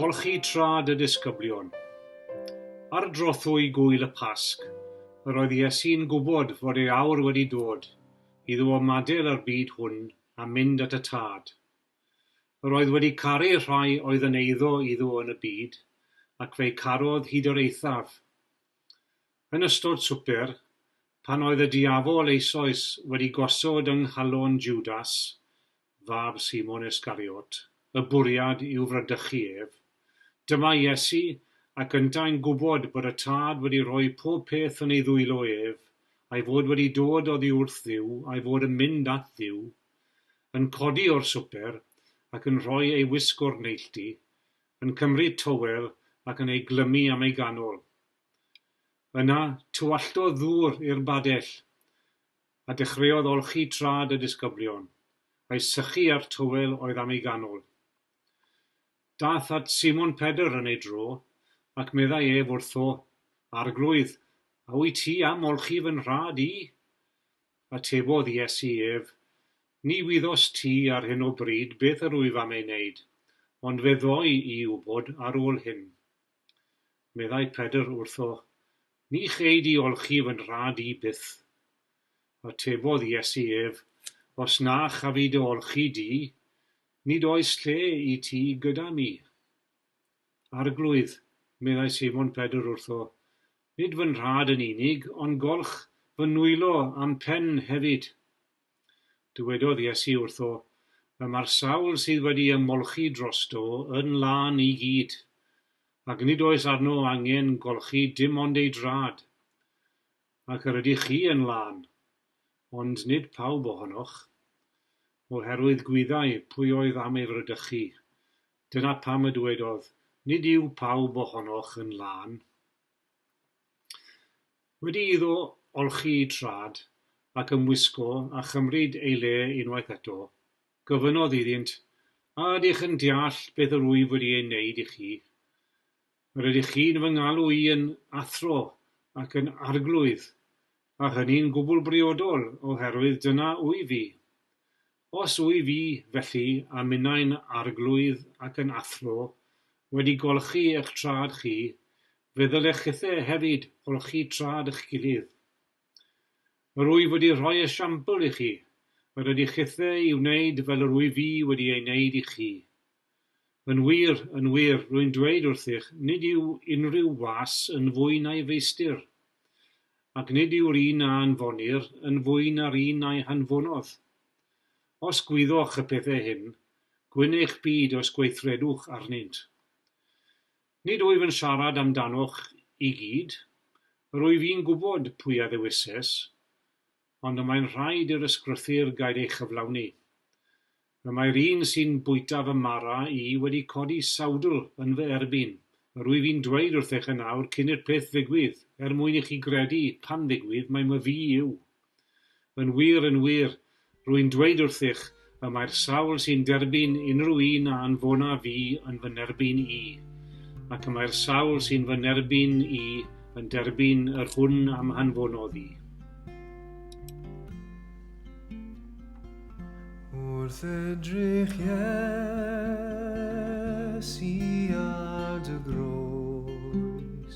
Golchi trad y disgyblion. Ar drothwy gwyl y Pasg, yr oedd Iesu'n gwybod fod ei awr wedi dod iddo ymadael â'r byd hwn a mynd at y Tad. Yr oedd wedi caru rhai oedd yn eiddo iddo yn y byd, ac fe'i carodd hyd yr eithaf. Yn ystod swper, pan oedd y diafol eisoes wedi gosod yng nghalon Jwdas, fab Simon Yscariot, y bwriad i'w fradychu ef, dyma Iesu, ac yntau'n gwybod bod y Tad wedi rhoi pob peth yn ei ddwylo ef, a'i fod wedi dod oddi wrth Dduw, a'i fod yn mynd at Dduw, yn codi o'r swper ac yn rhoi ei wisg o'r neilltu, yn cymryd tywel ac yn ei glymu am ei ganol. Yna, tywalltodd ddŵr i'r badell, a dechreuodd olchi trad y disgyblion, a'i sychu â'r tywel oedd am ei ganol. Daeth at Simon Pedr yn ei dro, ac meddai ef wrtho, Arglwydd, a wyt ti am olchi fy nhrad i? Atebodd Iesu ef, Ni wyddost ti ar hyn o bryd beth yr wyf am ei wneud, ond fe ddoi i wybod ar ôl hyn. Meddai Pedr wrtho, Ni chei di olchi fy nhad i byth. Atebodd Iesu ef, Os na chafi dy olchi di, nid oes lle i ti gyda mi. Arglwydd, meddai Seimon Pedr wrtho, Nid fy nhad yn unig, ond golch fy nwylo a'm pen hefyd. Dywedodd Iesu wrtho, Y mae'r sawl sydd wedi ymolchi drosto yn lân i gyd, ac nid oes arno angen golchi dim ond ei drad. Ac yr ydych chi yn lân, ond nid pawb ohonoch. Oherwydd gwyddai pwy oedd am ei fradychu, Dyna pam y dwedodd, Nid yw pawb ohonoch yn lân. Wedi iddo olchi'i trad, ac ymwisgo a chymryd ei le unwaith eto, gofynnodd iddynt, A ydych yn deall beth yr wyf wedi ei wneud i chi? Yr ydych chi'n fy ngalw i yn athro ac yn arglwydd, a hynny'n gwbl briodol, oherwydd dyna wyf i. Os wyf fi, felly, a minnau'n arglwydd ac yn athro, wedi golchi eich traed chi, fe ddylech chithe hefyd olchi traed eich gilydd. Yr wyf wedi rhoi esiampl i chi, yr ydych chithe i wneud fel yr wyf fi wedi ei wneud i chi. Yn wir, yn wir, rwy'n dweud wrthych, nid yw unrhyw was yn fwy na'i feistr, ac nid yw'r un a anfonir yn fwy na'r un a'i hanfonodd. Os gwyddoch y pethau hyn, gwyn eich byd os gweithredwch arnynt. Nid wyf yn siarad am danoch i gyd, yr wyf i'n gwybod pwy a ddewises, ond y mae'n rhaid i'r ysgrythur gael ei chyflawni. Y mae'r un sy'n bwyta fy mara i wedi codi sawdl yn fy erbyn. Yr wyf i'n dweud wrthych yn awr cyn i'r peth ddigwydd, er mwyn i chi gredu, pan ddigwydd, mai myfi yw. Yn wir, yn wir, rwy'n dweud wrthych, Y mae'r sawl sy'n derbyn unrhyw un a anfona fi yn fy nerbyn i, ac y mae'r sawl sy'n fy nerbyn i yn derbyn yr hwn am hanfonodd i. Wrth edrych Iesu ar dy groes